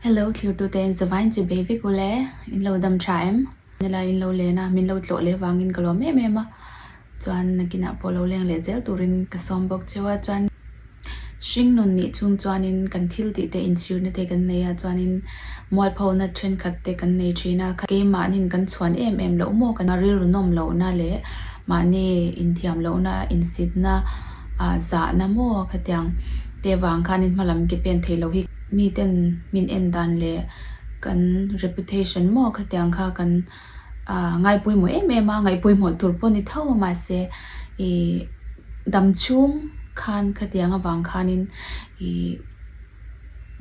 Hello thirtute in zavai in chibei vek u le, in lo dam tha em? Nila in lo len a, min lo tlawh leh vangin ka lawm em em a, chuan nakinah pawh lo leng leh zel turin ka sawm bawk cheu a, chuan Hringnun nih chung chuanin kan thil tih te inchhirna te kan nei a, chuanin mualphona thenkhat te kan nei thin a, keimahnin kan chhuan em em loh maw ka nih? Rilruhnawm lohna leh mahni inthiam lohna insitna zahna maw ka tiang te vang khan in hmalam ke pen thei lo hi ka nih. Miten min en dan leh kan reputation maw ka tiang kha kan ngaipawimawh em em a, ngaihpawimawh tur pawh ni tho a mahse i dam chhung khan ka tiang avang khanin i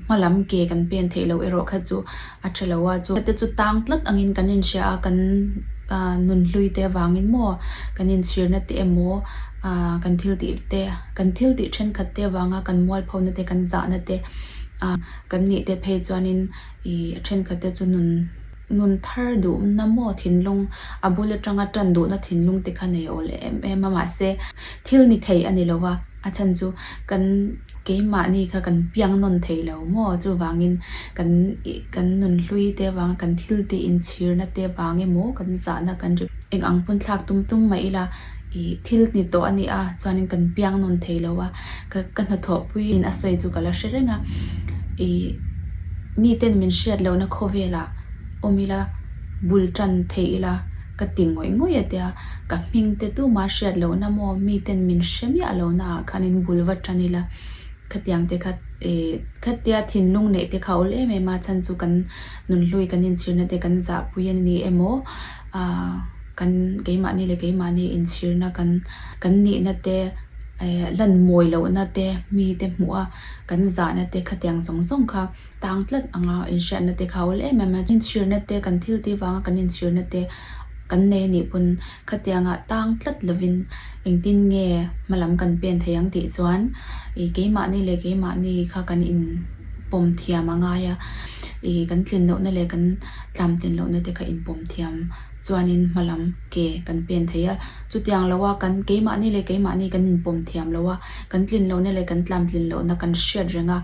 hmalam ke kan pen theih loh erawh kha chu. A ṭha lo a chu. Hete chu tang tlat angin kan inhria a, kan nun hlui te avangin maw, kan inchhirna te emaw, kan thil tih te, kan thil tih ṭhenkhat te avanga kan mual pho na te, kan zahna te kan nih te phei chuanin i a ṭhenkhat te chu nun nun thar duhna maw, thinlung a bul aṭanga ṭan duhna thinlung te kha nei awl em em a, mahse thil ni thei a ni lo a. A chhan chu kan keimahni kha kan piang nawn thei lo maw, chuvangin kan kan nun hlui te vang, kan thil tih inchhirna te vang emaw kan zahna kan ri eng ang pawn thlak tum tum mai ila ih thil ni tawh a nia chuanin kan piang nawn thei lo a, ka ka hnathawh puiin a sawi chu ka la hre reng a, ih miten min hriat lohna khawvelah awm ila bul tan theih ila. Ka ti ngawih ngawih a tia, ka hming te tuma hriat lohna maw, miten min hre miah lohna ah khan in bul va tan ila khatiang te kha eh, khatia thinlung neih te kha ul em em a, chhan chu kan nun hlui kan in chhirna te kan zahpui a ni emaw ah kan keimahni leh keimahni in chhirna kan kan nihna te eh hlan mawi lohna te mite hmuh a kan zahna te khatiang zawng zawng kha. tang tlat anga inhriatna te kha a ulh em em a, inchhirna te kan thil ti vanga kan inchhirna te kan nei a nih pawn khatianga tang tlat lovin engtin nge hma lam kan pen thei ang tih chuan i keimahni leh keimahni kha kan in pawm thiam a ngai a, i kan tlin lohna leh kan tlamtlin lohna te kha inpawm thiam. chuanin hma lam ke kan pen thei a, chutiang lo a kan keimahni leh keimahni kan inpawm thiam lo a, kan tlin lohna leh kan tlam tlin lohna kan hriat reng a,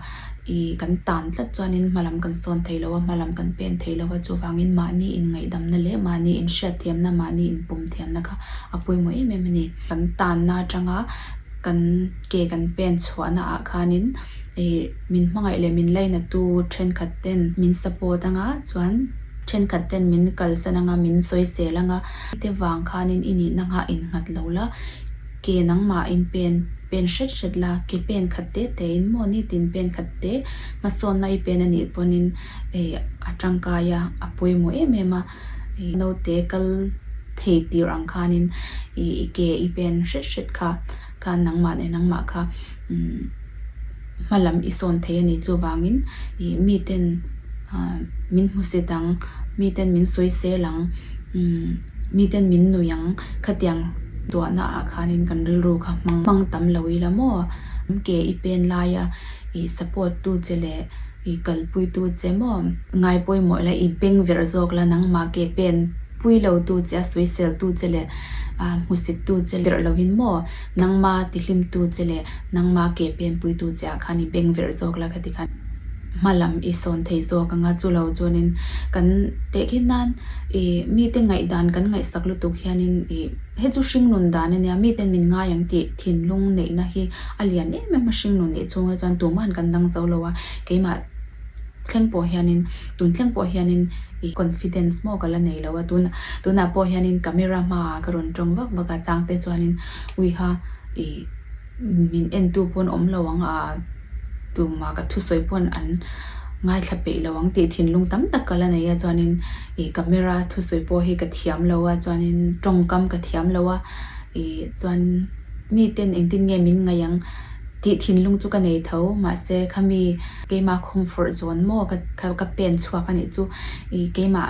i kan tan tlat chuanin hma lam kan sawn thei lo a, hma lam kan pen thei lo a, chuvangin mahni inngaidamna leh mahni inhriat thiamna, mahni inpawm thiamna kha a pawimawh em em a ni. Kan tanna atanga kan ke kan pen chhuahna ah khanin min hmangaih leh min lainatu thenkhat ten min support anga chuan, Thenkhat ten min kalsan ang a, min sawisel ang a, te vang khanin i nihna nghah in nghat lo la, ke nangmah in pen pen hret hret la, ke pen khat te te in maw ni tin pen khat te hmasawnna i pen a nih pawn in a tangkai a, a pawimawh em em a, naute kal thei tir ang khanin i ke i pen hret hret kha. Khan nangmah leh nangmah kha hma lam i sawn thei a nih chuvangin i mi ten min hmu set ang, mi ten min sawi sel ang, mi ten min nui ang khatiang duahna ah khanin kan rilru kha hmang hmang tam lo i la maw? Ke i pen laia i support tu che leh I kalpuitu che maw? Ngai pawimawh la, i beng verh zawk la, nangmah ke pen pui lotu che, a sawi seltu che leh ah hmusittu che verh lohin maw, nangma tihlimtu che leh nangma ke pen puitu che ah khan i beng verh zawk la ka ti khan, hma lam i sawn thei zawk ang a, chu lo chuanin kan tehkhin nan i mite ngaihdan kan ngaihsak lutuk hianin i he chu hringnun dan a nia, miten min ngai ang tih. Thinlung neihna hi a lian em em a, hringnun neih chhung hi chuan tumah an kan dang zo lo a, keimah thleng pawh hianin, tun thleng pawh hianin i confidence maw ka la nei lo a, tun tunah pawh hianin camera hmaah ka rawn tawng vak vak a, changte chuanin uiha i min entu pawn awm lo ang a, Tumah ka thusawi pawn an ngaithla peih lo ang tih thinlung tam tak ka la nei a chuanin ih camera thusawi pawh hi ka thiam lo a chuanin tawngkam ka thiam lo a ih chuan miten engtin nge min ngaih ang tih thinlung chu ka nei tho mahse khami keimah khawm fawrh zawn maw ka ka pen chhuak a nih chu ih keimah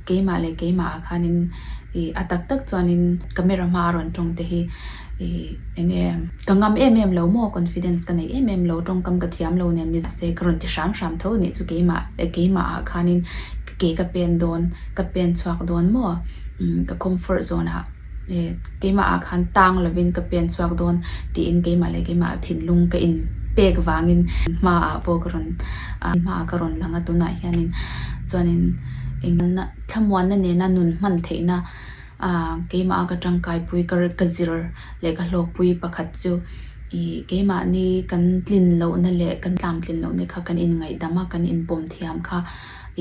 keimah leh keimah ah khanin ih a tak tak chuanin camera hma a rawn tawng te hi. I eng em? Ka ngam em em lo maw? Confidence ka nei em em lo, tawngkam ka thiam lo nen Mizaha se ka rawn ti hram hram tho anih chu keimah keimah ah khanin ke ka pen dawn ka pen chhuak dawn maw? Umm ka comfort zone ah e keimah ah khan tang lovin ka pen chhuak dawn tiin keimah leh keimah ah thinlung ka in pek vangin hma ah pawh ka rawn ti hma ah ka rawn lang a tunah hianin chuanin eng emna thlamuanna nena nun hman theihna. Aaa, keimaha ka tangkaipui, ka rilh, ka zir leh ka hlawkpui pakhat chu i keimahni kan tlin lohna leh kan tlamtlin lohna kha kan inngaidam a, kan inpawm thiam kha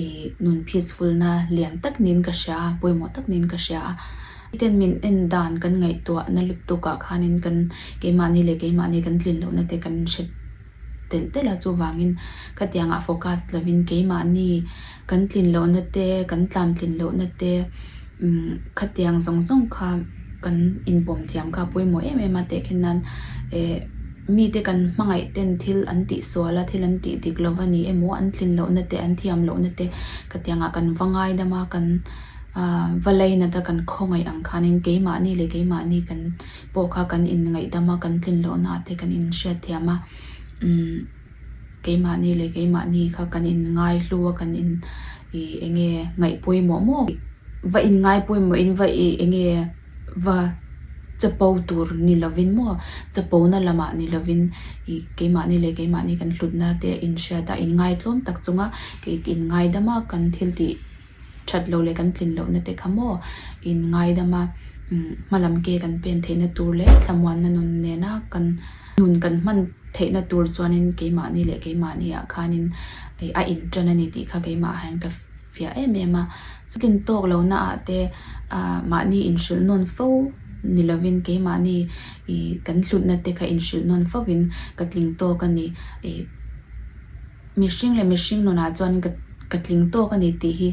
i nun peacefulna lian tak niin ka hria a, pawimawh tak niin ka hria a. Miten min en dan kan ngaihtuahna lutuk ah khanin kan keimahni leh keimahni kan tlin lohna te kan hre. telh telh a, chuvangin khatianga focus lovin keimahni kan tlin lohna te, kan tlam tlin lohna te umm khatiang zawng zawng kha kan inpawm thiam kha a pawimawh em em a, tehkhen nan eh mite kan hmangaih ten thil an tih sual a, thil an tih dik lo va ni emaw, an tlin lohna te, an thiam lohna te khatianga kan va ngai dam a, kan va lei nat a, kan khawngaih ang khanin keimahni leh keimahni kan. pawh kha kan inngaidam a, kan tlinhlawhnaah te kan inhriatthiam a, umm keimahni leh keimahni kha kan inngaihlu a, kan in i eng nge ngaih pawimawh mawh bik, va inngai pawimawhin va i eng nge va chapo tur ni lovin maw, chapona lamah ni lovin i keimahni leh keimahni kan hlutna te inhriat a, inngai tlawm tak chunga inngaidama kan thiltih that loh leh kan tlin lohna te kha maw in ngaidam a hmalam ke kan pen theihna tur leh thlamuanna nun nena kan nun kan hman theihna tur chuanin keimahni leh keimahni ah khanin a in tan a ni tih kha keimah ah hian ka fiah em em a chutlin tawk lohna ah te mahni in hrilh nawn fo ni lovin keimahni i kan hlutna te kha in hrilh nawn fo in ka tling tawk a ni. Mihring leh mihring nunah chuan ka ka tling tawk a ni tih hi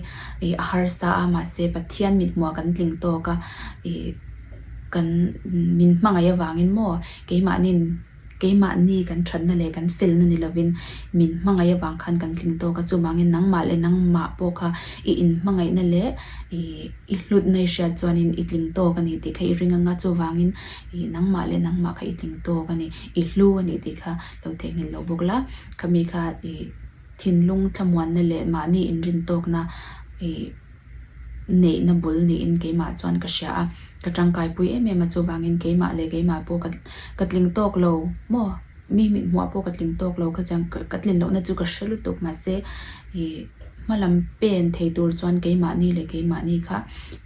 ih a harsa a, mahse Pathian mithmuhah kan tling tawk a, ih kan min hmangaih avangin maw keimahni'n keimahni kan thatna leh kan felna ni lovin min hmangaih avang khan kan tling tawk a, chuvangin nangmah leh nangmah pawh kha i inhmangaihna leh ih i hlutna i hriat chuanin i tling tawk a ni tih kha i ring anga chuvangin ih nangmah leh nangmah kha i tling tawk a ni, i hlu a ni tih kha. lo thei nghil lo bawk la, khami kha i thinlung thlamuanna leh mahni inrintawkna i neihna bul niin keimah chuan ka hria a, ka tangkaipui em em a, chuvangin keimah leh keimah pawh ka ka tling tawk lo maw? Mi mithmuhah pawh ka tling tawk lo kha chiang, ka tlin lohna chu ka hre lutuk mahse i hmalam pen thei tur chuan keimahni leh keimahni kha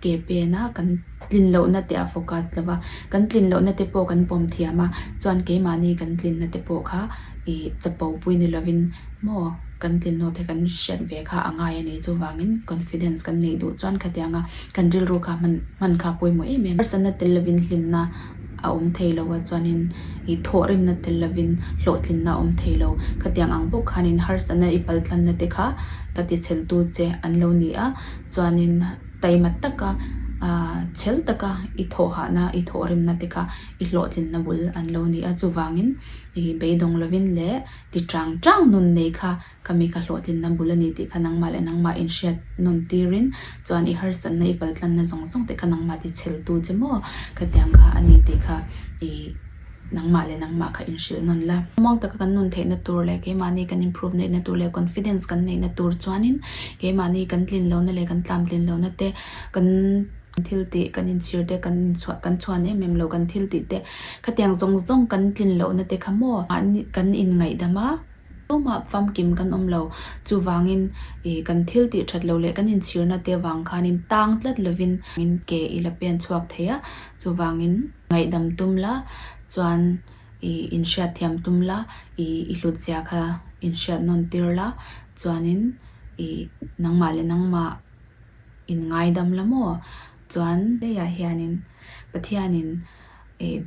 ke pena kan. Tlin lohna te a focus lova, kan tlin lohna te pawh kan pawm thiam a, chuan keimahni kan tlinna te pawh kha i chapo pui ni lovin maw kan tlinawt hi kan hriat ve kha a ngai a ni, chuvangin confidence kan neih duh chuan khatiang anga kan rilru kha hman hman kha a pawimawh em em. Harsatna tel lovin hlimna a awm thei lo a chuanin i thawh rimna tel lovin hlawhtlinna a awm thei lo, khatiang ang bawk khanin harsatna i paltlanna te kha ka tichhelh tu che an lo ni a, chuanin. Taimat taka, chhel taka i thawhahna, i thawhremna te kha i hlawhtlinna bul an lo ni a. Chuvangin beidawng lovin leh ti ṭang ṭang nun nei kha ka mi kha hlawhtlinna bul a ni tih kha nangmah leh nangmah in hriat nun tirin chuan i harsatna, i kaltlanna zawng zawng te kha nangmah ti chhel tu che maw ka tiang kha a ni tih kha i Nangmah leh nangmah kha inhrilh nawn la. Muang taka kan nun theihna tur leh keimahni kan improve neihna tur leh confidence kan neihna tur chuanin keimahni kan tlin lohna leh kan tlamtlin lohna te, kan thil tih kan inchhir te, kan inchhuah kan chhuan em em lo kan thil tih te khatiang zawng zawng kan tlin lohna te kha maw kan inngaihdam a. Tumah famkim kan awm lo. Chuvangin i kan thil tih that lo leh kan inchhirna te vang khanin tang tlat lovin ke i la pen chhuak thei a, chuvangin. Ngaihdam tum la, chuan i inhriat thiam tum la, i i hlutzia kha inhriat nawn tir la, chuanin i nangmah leh nangmah in ngaidam la maw? Chuan. Leiah hianin Pathianin.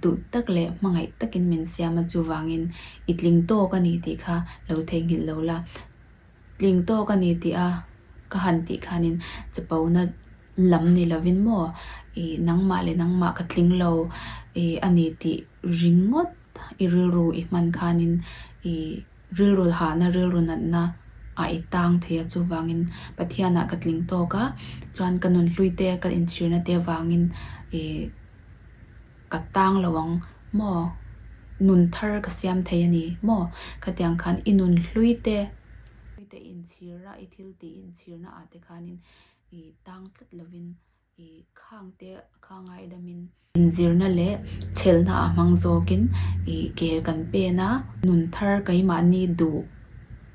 duh tak leh hmangaih takin min siam a, chuvangin i tling tawk a ni tih kha lo theihnghilh lo la. Tling tawk a ni tih a ka han tih khanin chapona lam ni lovin maw i nangmah leh nangmah ka tling lo a ni tih ringawt i rilru i hman khanin i Rilru hahna, rilru natna a i tang thei a, chuvangin Pathianah ka tling tawk a, chuan ka nun hluite ka inchhirna te vangin i ka tang lo ang maw? Nun thar ka siam thei a ni maw? Ka tiang khan i nun hluite inchhirna, i thil tih inchhirna ah te khanin i tang tlat lovin I khangte khangai damin inzirna leh chhelhna ah hmang zawkin i ke kan pen a, nun thar keimahni duh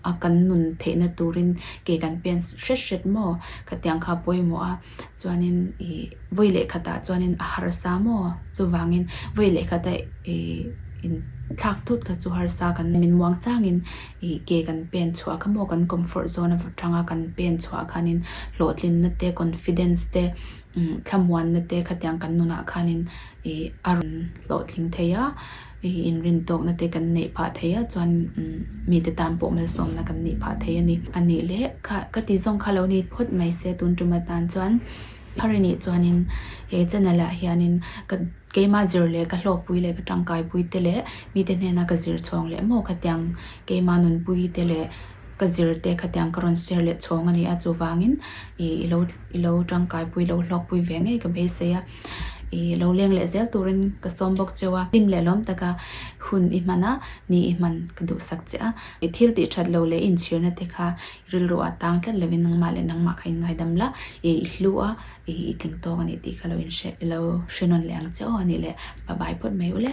a kan nun theihna turin ke kan pen hret hret maw? Khatiang kha pawimawh a, chuanin i vawi lehkhat ah chuanin a harsa maw? Chuvangin vawi lehkhat a i inthlak thut kha chu harsa kan min muang changin I ke kan pen chhuah kha maw kan comfort zone atanga kan pen chhuah khanin hlawhtlinna te confidence te thlamuanna te khatiang kan nunah khanin i a rawn hlawhtling thei a, i inrin tawkna te kan neih phah thei a chuanin mite tan pawh malsawmna kan nih phah thei a ni. A nih leh kha ka ti zawng kha a lo ni phawt mai se tun tuma tan chuan Hari nih chuanin he channel ah hianin ka Keimah zir leh ka hlawkpui leh ka tangkaipui te leh mite hnena ka zir chhawng leh maw khatiang keimah nunpui te leh ka zir te khatiang ka rawn share leh chhawng a ni a, chuvangin ih i lo i lo tangkaipui i lo hlawkpui ve ngei ka beisei a, i lo leng leh zel turin ka sawm bawk cheu a, hlim leh lawm taka hun i hman a, ni i hman ka duhsak che a, thil tihthat lo leh inchhirna te kha Rilru a tang tlat lovin nangmah leh nangmah kha in ngaidam la, ih i hlu a, ih i tling tawk a nih tih kha lo inhre, lo hre nawn leh ang che aw a nih le, pa bai phawt mai ule.